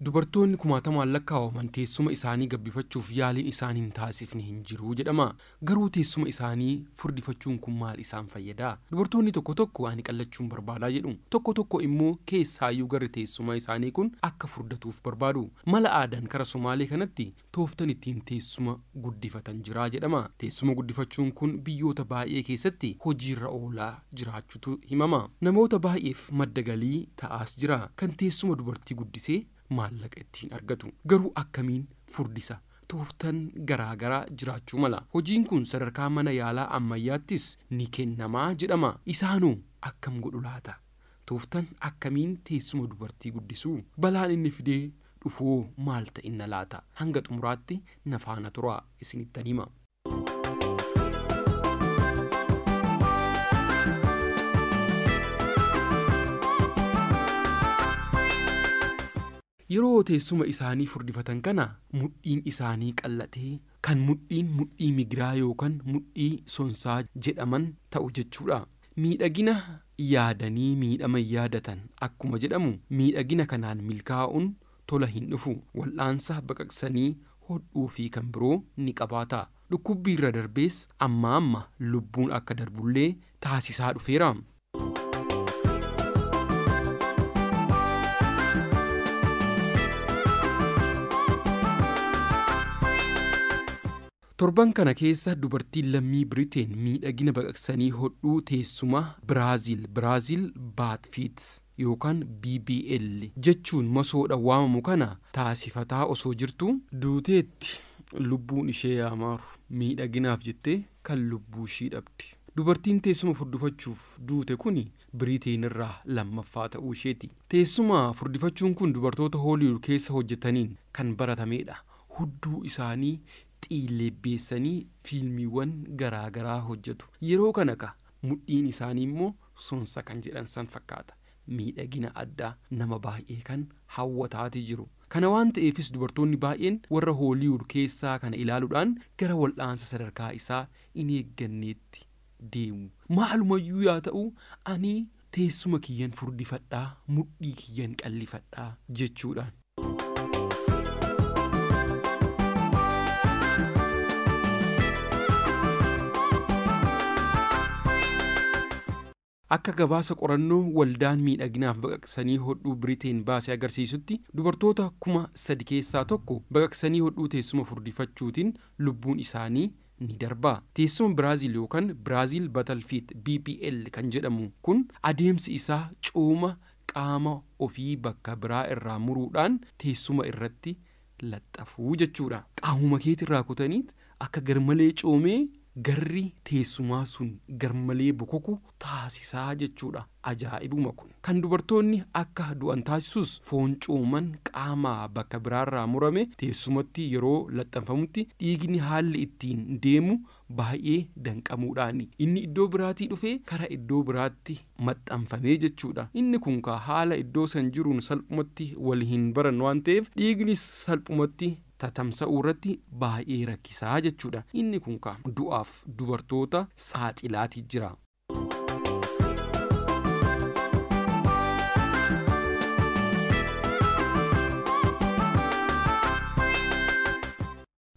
Dubartoonni kumaatamaan lakkaa'aman teessuma isaanii gabbifachuuf yaaliin isaan hin taasifne hin jiru jedhama. Garuu teessuma isaanii furdifachuun kun maal isaan fayyada? Dubartoonni tokko tokko ani qallachuun barbaada jedhu. Tokko tokko immoo keessaayyuu garri teessuma isaanii kun akka furdatuuf barbaadu. Mala aadaan kara Somaalee kanatti tooftan ittiin teessuma guddifatan jira jedhama. Teessuma guddifachuun kun biyyoota baay'ee keessatti hojiirra oolaa jiraachutu himama. Namoota baay'eef madda galii ta'aas jira. Kan teessuma dubartii guddise maallaqa ittiin argatu. Garuu akkamiin furdisa? Tooftan garaa garaa jiraachuu mala. Hojiin kun sadarkaa mana yaalaa ammayyaattis ni kennama jedhama. Isaanoo akkam godhu laata? Tooftan akkamiin teessuma dubartii guddisuu? Balaan inni fidee dhufuhoo maal ta'inna laata? Hanga xumuraatti na faana turaa isinittan hima. Yeroo teessuma isaanii furdifatan kana mudhiin isaanii qal'atee kan mudhiin mudhii migiraa yookan mudhii sonsaa jedhaman ta'u jechuudha. Miidhagina yaadanii miidhama hin yaadatan akkuma jedhamu miidhagina kanaan milkaa'uun tola hin dhufu. Wal'aansa baqaqsanii hodhuu fi kan biroo ni qabaata. Dhukkubbiirra darbees ammaa amma lubbuun akka darbullee taasisaa dhufeera. Torban kana keessa dubartiin lammii Biriteen miidhagina baqaqsanii hodhuu teessuma Biraaziil, Brazil Butt Fit yookaan BBL jechuun masoodha waamamu kana taasifataa osoo jirtuu, duuteetti, lubbuun ishee yaa maaru, miidhaginaaf jettee kan lubbuushii dhabde dubartiin teessuma furdufachuuf duute kuni Biriiteen irraa lammaffaa ta'uu isheeti. Teessuma furdifachuun kun dubartoota Hooliwuud keessa hojjetaniin kan baratameedha. Hudduu isaanii xiilleebbeessanii fiilmiiwwan garaa garaa hojjetu. Yeroo kana ka mudhiin isaanii immoo sonsa kan jedhan san fakkaata. Miidhagina addaa nama baay'ee kan hawwataati jiru. Kana waan ta'eefis dubartoonni baay'een warra Hooliwuud keessaa kana ilaaluudhaan gara wal'aansa sadarkaa isaa in eegganneetti deemu. Maalumayyuu yaa ta'u ani teessuma kiyyan furdifadha, mudhii kiyyan qallifadha jechuudhaan. Akka gabaasa qorannoo waldaan miidhaginaaf baqaqsanii hodhuu Biriteen baase agarsiisutti dubartoota kuma sadi keessaa tokko baqaqsanii hodhuu teessuma furdifachuutiin lubbuun isaanii ni darba. Teessuma Biraazil yookan Brazil Battle Fit, BPL, kan jedhamu kun adeemsi isaa cooma qaama ofii bakka biraa irraa muruudhaan teessuma irratti laxxafu jechuu dha. Qaamuma keeti irraa kutaniit akka garmalee coomee garri teessumaa sun garmalee bokoku taasisa jechuu dha. Ajaa'ibuma kun. Kan dubartoonni akka du'an taasisus foon cooman qaama bakka biraarraa murame teessumatti yeroo laxxanfamutti dhiigni haalli ittiin deemu baay'ee danqamuudhaan inni iddoo biraatii dhufee kara iddoo biraatti maxxanfamee jechuudha. Inni kun kaa haala iddoo san jiruun salphumatti wal hin baran waan ta'eef dhiignis salphumatti tatamsa'uu irratti baay'ee rakkisaa jechuudha. Inni kun kaa du'aaf dubartoota saaxilaatii jira.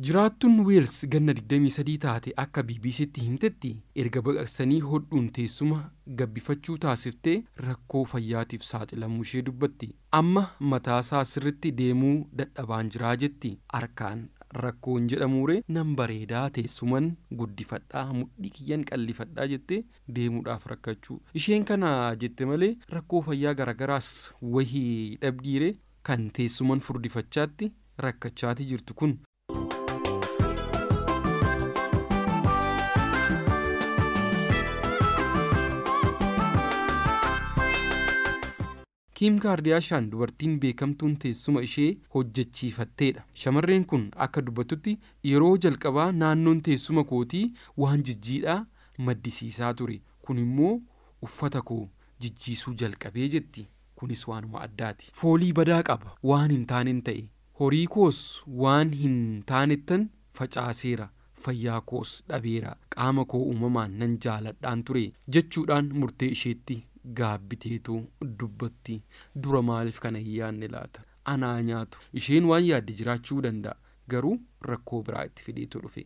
Jiraattuun Weels ganna digdamii sadii taate akka BBCtti himtetti, erga baqaqsanii hodhuun teessuma gabbifachuu taasiftee rakkoo fayyaatiif saaxilamuu ishee dubbatti. Amma mataasaa sirriitti deemuu dadhabaan jira jetti. Harkaan rakkoo hin jedhamuuree nan bareeda, teessuman guddifadha, mudhii kiyyan qallifadha jettee deemuudhaaf rakkachuu. Isheen kana jette malee rakkoo fayyaa garaagaraas wahii dhabdiiree kan teessuman furdifachaatti. rakkachaati jirtu kun. Kiim Kaardiyaashaan dubartiin beekamtuun teessuma ishee hojjechiifatteedha. Shamarreen kun akka dubbattutti yeroo jalqabaa naannoon teessuma kootii waan jijjiidhaa maddisiisaa ture. Kunimmoo uffata koo jijjiisuu jalqabe jetti. Kunis waanuma addaati. Foolii badaa qaba. Waan hin taanen ta'e. Horii koos waan hin taanettan facaaseera. Fayyaa koos dhabeera. Qaama koo uumamaan nan jaaladhaan ture, jechuudhaan murtee isheetti gaabbiteetu dubbatti. Dura maaliif kana hin yaadne laata? Ana haa nyaatu. Isheen waan yaadde jiraachuu danda'a. Garuu rakkoo biraa itti fideetu dhufe.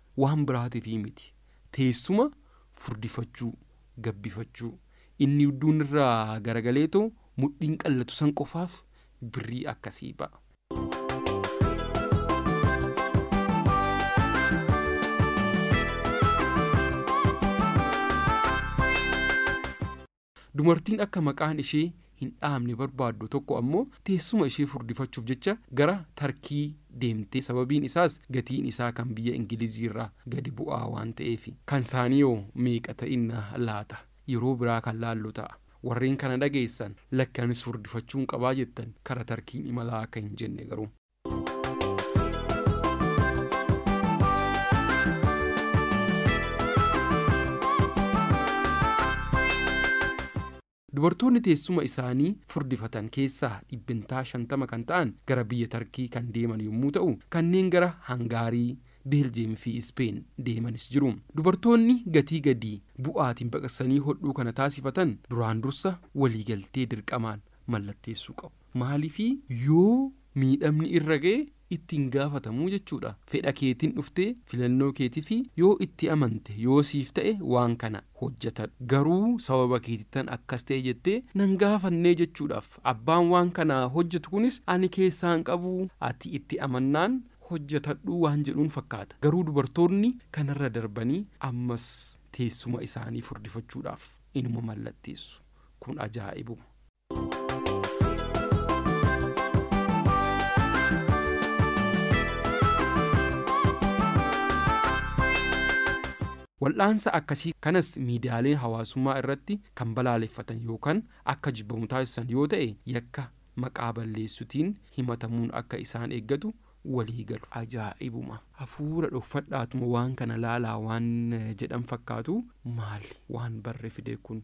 Waan biraatif miti. Teessuma furdifachuu, gabbifachuu, inni udduun irraa garagaleetoo mudhiin qallatu san qofaaf birrii akkasii ba'a. Dumartiin akka maqaan ishee hin dhahamne barbaaddu tokko ammoo teessuma ishee furdifachuuf jecha gara Tarkii deemte. Sababiin isaas gatiin isaa kan biyya Ingiliziirra gadi bu'aa waan ta'eefi. Kansaaniihoo meeqa ta'inna laata? Yeroo biraa kan laallu ta'a. Warreen kana dhageessan, lakki anis furdifachuun qabaa jettan kara Tarkiin imalaa akka hin jenne garuu. Dubartoonni teessuma isaanii furdifatan keessaa dhibbentaa 50 kan ta'an gara biyya Tarkii kan deeman yommuu ta'u, kanneen gara Hangaarii, Beeljiyeem fi Ispeen deemanis jiru. Dubartoonni gatii gadi bu'aatiin baqaqsanii hodhuu kana taasifatan duraan dursa waliigaltee dirqamaan mallatteessuu qabu. Maaliif yoo miidhamni irra ga'e itti hin gaafatamu jechuudha. Fedha keetiin dhuftee filannoo keetiif yoo itti amante yoo siif ta'e waan kana hojjetadhu. Garuu sababa keetittan akkas ta'e jettee nan gaafannee jechuudhaaf abbaan waan kana hojjetu kunis ani keessaa hin qabu ati itti amannaan hojjetadhu waan jedhuun fakkaata. Garuu dubartoonni kanarra darbanii ammas teessuma isaanii furdifachuudhaaf inuma mallatteessu. Kun ajaa'ibuma. Wal'aansa akkasii kanas miidiyaaleen hawaasummaa irratti kan balaaleffatan yookan akka jibbamu taasisan yoo ta'e yakka maqaa balleessutiin himatamuun akka isaan eeggatu walii galu. Ajaa'ibuma! Hafuura dhokfadhaatuma waan kana laalaa waan jedhan fakkaatu maali waan barre fide kun?